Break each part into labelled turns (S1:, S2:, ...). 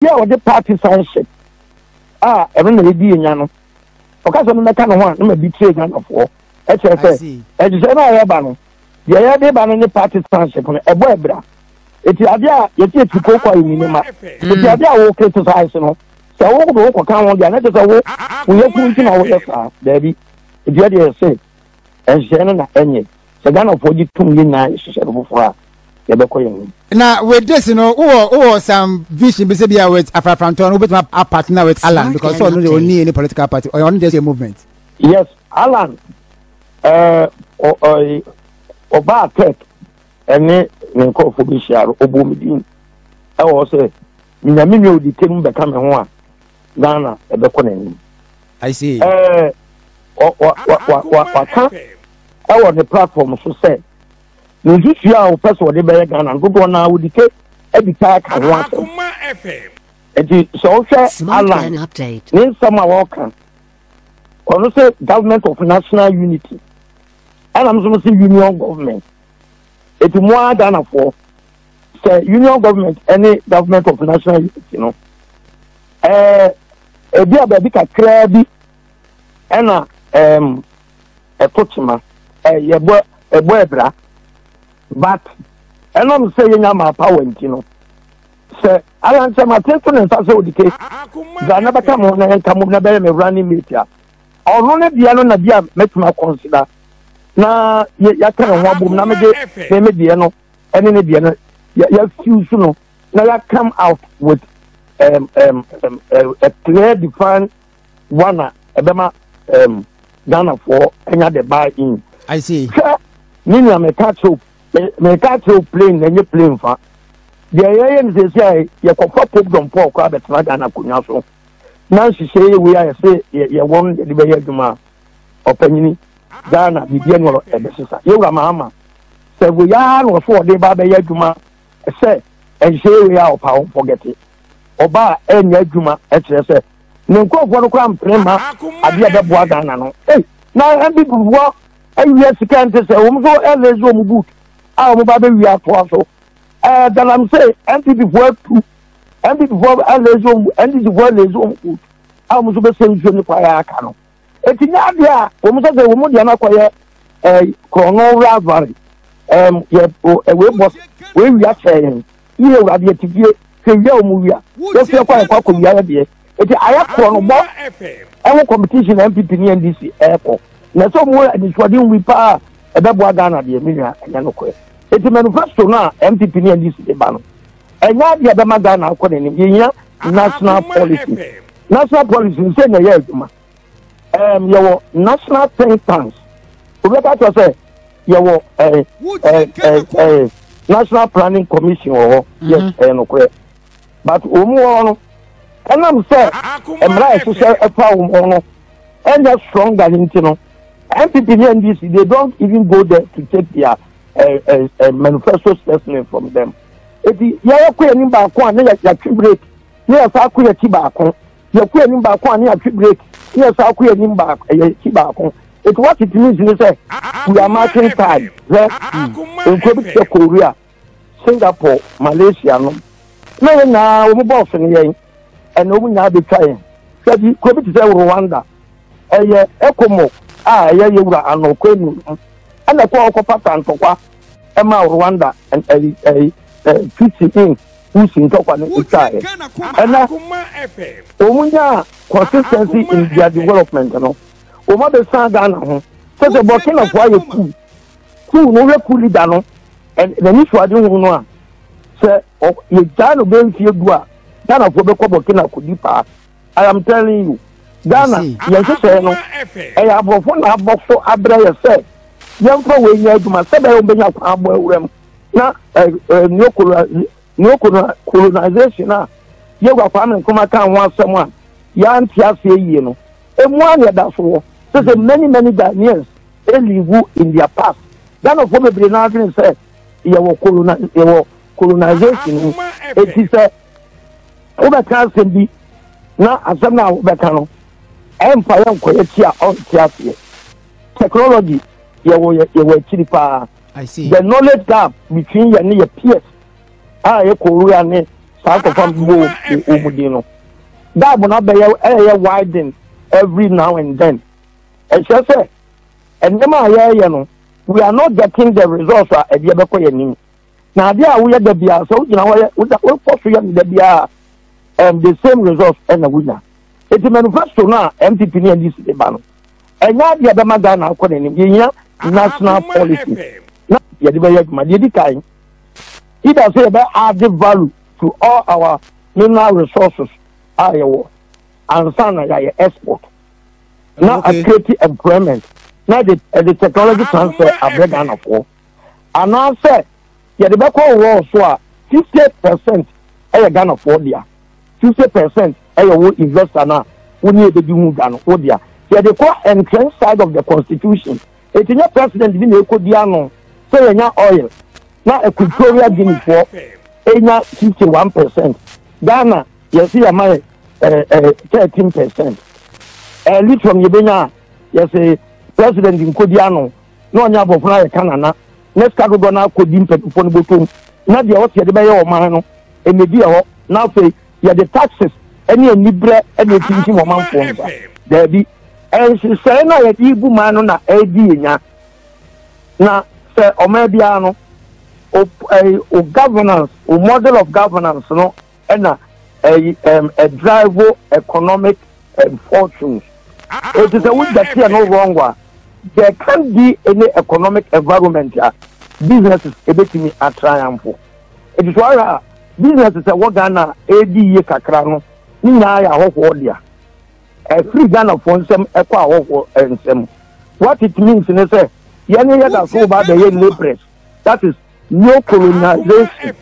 S1: Obi a ɔde party sonship a ɛno na yɛdi yɛnya no, ɔka sɛ memɛka ne ho a na ma betray Ghanafoɔ. Ɛkyerɛ sɛ nhyehyɛe no a yɛreba no, deɛ yɛde ba no ne party sonship no, ɛbɔ abira. Eti adeɛ a yɛte akyiri kooko a yɛnni ne ma. Eti adeɛ a wo criticize no, sɛ wo de wo kɔka ho deɛ a, na kyerɛ sɛ wo wo yafunu nti na woyɛ saa. Daabi. Eti yɛdeɛ yɛse nhyehyɛe no na ɛnyɛ. Sɛ Ghanafoɔ gye tom yɛn nyinaa hyehyɛ no foforɔ a, yɛbɛkɔ yɛn anim.
S2: Na with this no wowɔ wowɔ some vision bi sɛ bia with afrafrantɔ no wobɛtumi a partner with Allan because sɛ ɔno deɛ ɔnni any political party ɔyɛ ɔno just a movement. Yes, Allan ɛɛ ɔbaa tech ɛne ne nkurɔfoɔ bɛhyia no ɔbɔɔ me din ɛwɔ hɔ sɛ minya me nua odi tem bɛka me ho a ghana ɛbɛkɔ n'anim I see. ɛɛ wɔ- wɔ- wɔ- wɔ- wɔ- waka ɛwɔ ne platform so sɛ ne nsusua a wɔpɛ sɛ wɔde bɛyɛ ghana no dodoɔ no a wɔde te adi taa ka ho asɛm nti sɛ wohwɛ Smart alan Plan Update. ne nsɛm a wɔka ɔno sɛ government of national unity ɛna m nso m sɛ union government ɛti mo ara ghanafoɔ sɛ union government ne government of national unity no ɛɛ ebi a baabi kakraa bi ɛna ɛɛm ɛto tema ɛyɛ bɔ ɛbɔ ɛbra but ɛnam sɛ yɛnya maa power nti no sɛ alansɛm atete ne nsa sɛ odike dza na bɛka mo na yɛnka mo na bɛyɛ me running mate a ɔno ne deɛ no na bi a mɛtumi akɔnsida na yɛaka ne ho abom na mede me me deɛ no ɛne ne deɛ no yɛafiw so no na yɛakam out with um, um, um, a clear defined one a ɛbɛma um, ghanafoɔ anya the buy in I see. sɛ ne nua meka kyerɛw meka kyerɛw plane na ɛnyɛ plane fa deɛ yɛyɛ no sɛsi a yɛkɔfa popdom paul koraa bɛtena ghana akonnwa so na nhyehyɛ yɛ wei a yɛsɛ yɛwɔ no yɛde bɛyɛ adwuma a ɔpanyini ghana biribi ani ɔrɔ ɛbɛsesa yɛwura mahama sɛ wei ara na ɔso ɔde ba bɛyɛ adwuma sɛ ɛnhyɛ wei a ɔpa wɔn fɔgɛte ɔba a ɛnyɛ adwuma ɛkyerɛ sɛ ne nkurɔfoɔ no koraa mpene ma adeɛ a ɛbɛboa ghana no ei na ɛbi bubuɔ awia sika nte sɛ wɔn nso ɛlɛzi wɔn boot a wɔn ba bɛwia atoa so ɛɛ galamsey npp foɔ atu npp foɔ ɛlɛzi wɔn npp foɔ ɛlɛzi wɔn boot a wɔn nso bɛsɛ nsuo ne kwaeɛ aka no Eti nyɛ adeɛ a wɔn sɛ sɛ wɔn deɛ no akɔyɛ ɛɛ eh, korɔno rivalry ɛɛm yɛ o ɛwɛ bɔ wei wia sɛ yɛn yie wura deɛ ti fie sɛ wia wɔn wia yɛ fie kɔ ayɛ kɔ akɔ wia yɛ deɛ eti ayɛ korɔno bɔ ɛho competition npp ne ndc ɛɛkɔ na ɛsɛ wɔn anisoade nwi paa ɛbɛboa ghana deɛ mi nua ɛnyɛ no korɛ eti manifesto no a npp ne ndc de ba no. ɛnyɛ ade a ɛbɛma ghana akɔ n'anim yɛhia national policy national policy sɛ na ɛyɛ adwuma um, yɛwɔ national think tanks wobɛka kyerɛ sɛ yɛwɔ eh, eh, eh, eh, national planning commission wɔ hɔ yɛ mhm. ɛyɛ nokorɛ but wɔn mu hɔ no ɛnam sɛ mmara a ɛhyehyɛ ɛfa wɔn ho no ɛnyɛ strong than nti no npp ne ndc they don't even go there to take their eh, eh, eh, manifesto specimen from them eti yɛyɛ kɔ yɛn ni baako a ne yɛ yɛatwi break ne yɛ saa kɔ yɛ ti baako yɛ kɔ yɛn ni baako a ne yɛatwi break ne yɛ saa kɔ yɛn ni baako yɛ ti baako eti wɔte tumi nsini sɛ we are marching time sɛ nkuro bi te sɛ korea singapore malaysia no na yɛn nyinaa wɔn bɔɔso ne yɛn ɛna wɔn nyinaa bɛ twa yɛn sɛ bi kuro bi te sɛ rwanda. ɛyɛ ɛkomo a ɛyɛ yɛwura ano kwanu no ɛna ɛkɔ ɔkɔfa ta ntɔkwa ɛma rwanda ɛyi ɛyi fisi in usi ntɔkwa no ɛtwa ɛ ɛna wɔn nyaa consistency in their development no wɔn abɛsan ghana ho sɛ sɛ burkina fo ayɛ kuu kuu no hwɛ kuu leader no n'ani so ade hu no a sɛ yɛgyaa no bɛmfie du a ghana fo bɛkɔ burkina kodi paa I am telling you. Ghana, yɛn hyehyɛɛ no, ɛyɛ aborɔfo na abɔ so abrɛ yɛ sɛ yɛmfa wei nyɛ adwuma sɛ bɛyɛ wɔbɛnya kwan abɔ awura mu na neo colonization a yɛgu akwame nkoma ka ho asɛm a yɛante aseɛ yie no ɛmu a na ɛda so wɔ sɛ sɛ many many ghanaians ɛlivu in their past ghanafoɔ bebree no adwene sɛ yɛwɔ colonization mu ɛti sɛ wobɛka asɛm bi na asɛm no a wobɛka no ɛmfa yɛ nkɔyɛ ti a ɔnte aseɛ technology yɛwɔ yɛwɔ akyiri paa the knowledge gap between yɛne yɛ peers a yɛkɔwura ne saa nkɔfa mbɔ wɔ mu din no gap no abɛyɛ ɛyɛ widen every now and then ɛkyerɛ sɛ nneɛma a yɛreyɛ no we are not getting the results a ɛdeɛ bɛkɔ yɛn anim na adeɛ a woyɛ da biara sɛ wogyina hɔ yɛ woda wokɔ so yɛ no da biara and the same result ɛna wonya eti manifesto no a mpp ne ndc de ba no ɛnyɛ adeɛ a bɛma ghana akɔ n'anim yɛhia national policy na yɛde bɛyɛ adwuma deɛ di kan either sɛ yɛbɛ add value to all our mineral resources a yɛwɔ ansa na yɛayɛ export na okay. create employment na the, uh, the technology transfer abrɛ ghanafoɔ anaasɛ yɛde bɛkɔ overall so a, fifty percent yɛ Ghanafoɔ dea, fifty percent yɛ wo investor no a wo ne ɛbɛdi ho dwa no wo dea. Sɛ yɛde kɔ entrenched side of the constitution, ɛti nyɛ president bi na ɛkɔdi ano sɛ yɛnya oil na Equatorial Guineafoɔ ɛnya fifty one percent, Ghana yɛse yɛma yɛ eh, eh, thirteen percent. Eh, lithium yɛbɛnya a yɛse president nkɔdi ano na ɔne abɔfra ayɛ ka nana na sika dodoɔ no akɔdi mpanyinfoɔ no bɔtɔm na deɛ ɔte yɛde bɛyɛ ɔman no ɛnɛdi ɛhɔ na afei yɛde taxes ɛne anibrɛ ɛne ɛtintim ɔmanfoɔ nsa daabi ɛnsesɛe no a yɛde gu man no na ɛredi yɛ nya na sɛ ɔman biara no o governance o model of governance no ɛna ɛyi ɛm ɛdraivo economic ɛm fortunes eti sɛ wogya tiɛ no wrong wa there can be any economic environment a businesses ebetumi atriumph eti so ara a businesses ɛwɔ ghana edi yie kakra no ne nyinaa yɛ ahɔhoɔ dea ɛfiri ghanafoɔ nsɛm ɛkɔ ahɔhoɔ nsɛm what it means ne sɛ yɛne yɛda so ba abɛyɛ labourers that is. neocolonization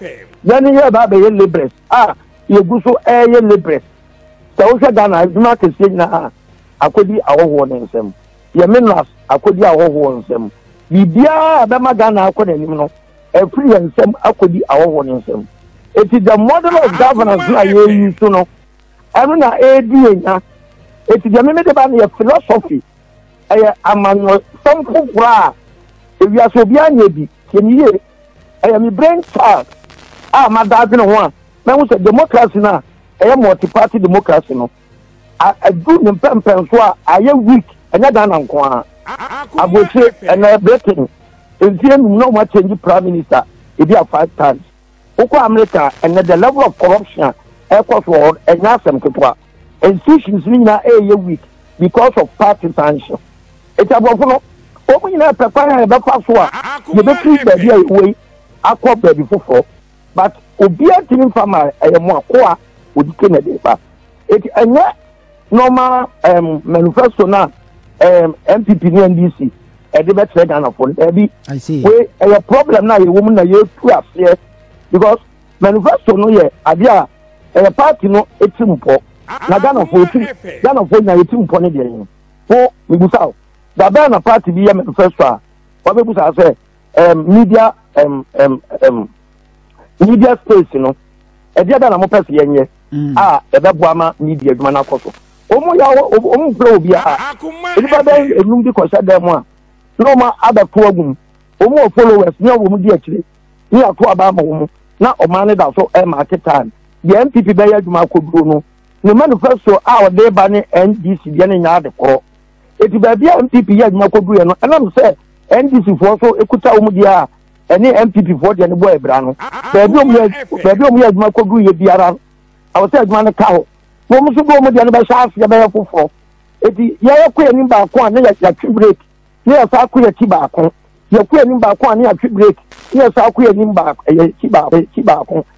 S2: yɛne yɛ ba bɛyɛ laborers a yɛgu so ɛyɛ laborers sɛ wohwɛ ghana adwuma kɛseɛ nyinaa akɔdi ahɔhoɔ no nsɛm yɛ minerals akɔdi ahɔhoɔ nsɛm biribiaa bɛma ghana akɔ n'anim no ɛfiri yɛ nsɛm akɔdi ahɔhoɔ no nsɛm ɛti the model of governance na yɛyi so no ɛno na ɛdi yɛ nya ɛti deɛ meme de ba no yɛ philosophy ɛyɛ amanyɔsɛm foforɔ a ewiase obiara nyɛ bi. Tie me yie, ɛyɛ me brain child a mada adwene ho a mahu sɛ democracy no a ɛyɛ multi-party democracy no adu ne mpɛmpɛnso a ayɛ weak, ɛnyɛ Ghana nko ara. Aburokyire, ɛnna Britain, mfeɛ nnum na wɔn akyɛngye prime minister ebi a five times. Wokɔ America a, ɛnnɛ the level of corruption a ɛrekɔ so wɔ hɔ no, ɛnyɛ asɛm ketewa. Institutions no nyinaa reyɛ weak because of party sanction. Enti aborɔfo no, wɔn nyinaa pɛ kwan a yɛbɛfa so a yɛbɛfiri baabi a yɛwɔ yi akɔ baabi foforɔ. But obiara ntumi mfa mmaeɛ, ɛyɛ mo akoa ɔdi ke na ɛde ba. Enti ɛnyɛ. normal um, manifesto na um, npp ne ndc ɛde bɛkyerɛ ghanafoɔ no daabi wei ɛyɛ problem no a yɛwɔ mu na yɛtu aseɛ because manifesto no yɛ adeɛ a ɛyɛ party no ɛti mpɔ na ghanafoɔ ɛti ghanafoɔ nyina yɛti mpɔ ne deɛ no ho mebusa o dabɛn na party bi yɛ manifesto a wabɛbusa sɛ um, media um, um, um, media space no ɛdeɛ bɛn na mopɛ sɛ yɛnyɛ mm. a ɛbɛboa ma media adwuma no akɔ so ɔmu yɛ ɔmu mpira obi a nipa bɛn enum bi kɔhyɛ dan mu a na ɔma abɛto agu mu ɔmu wɔ followers ne ɔwɔ mu di akyire ne ato aba ama wɔn na ɔman no da so ɛma ake time deɛ npp bɛyɛ adwuma akɔduro no ne manifesto a ɔde ba ne ndc deɛ ne nyinaa de korɔ. Eti baabi a NPP yɛ adwuma koduruiɛ no, ɛnam sɛ NDC foɔ nso kuta wɔn deɛ a ɛne NPP foɔ deɛ no bɔ abira no, baabi a wɔyɛ baabi a wɔyɛ adwuma koduruiɛ biara no, ɛwɔ sɛ adwuma no ka hɔ. Wɔn nso de wɔn deɛ no bɛhyɛ aseɛ bɛyɛ foforɔ. Eti yɛyɛ kɔ anim baako a ne yɛatwe break, ne yɛsan kɔ akyi baako. Yɛkɔ anim baako a ne yɛatwe break, ne yɛsan kɔ anim baako, ɛyɛ akyi baako, akyi baako.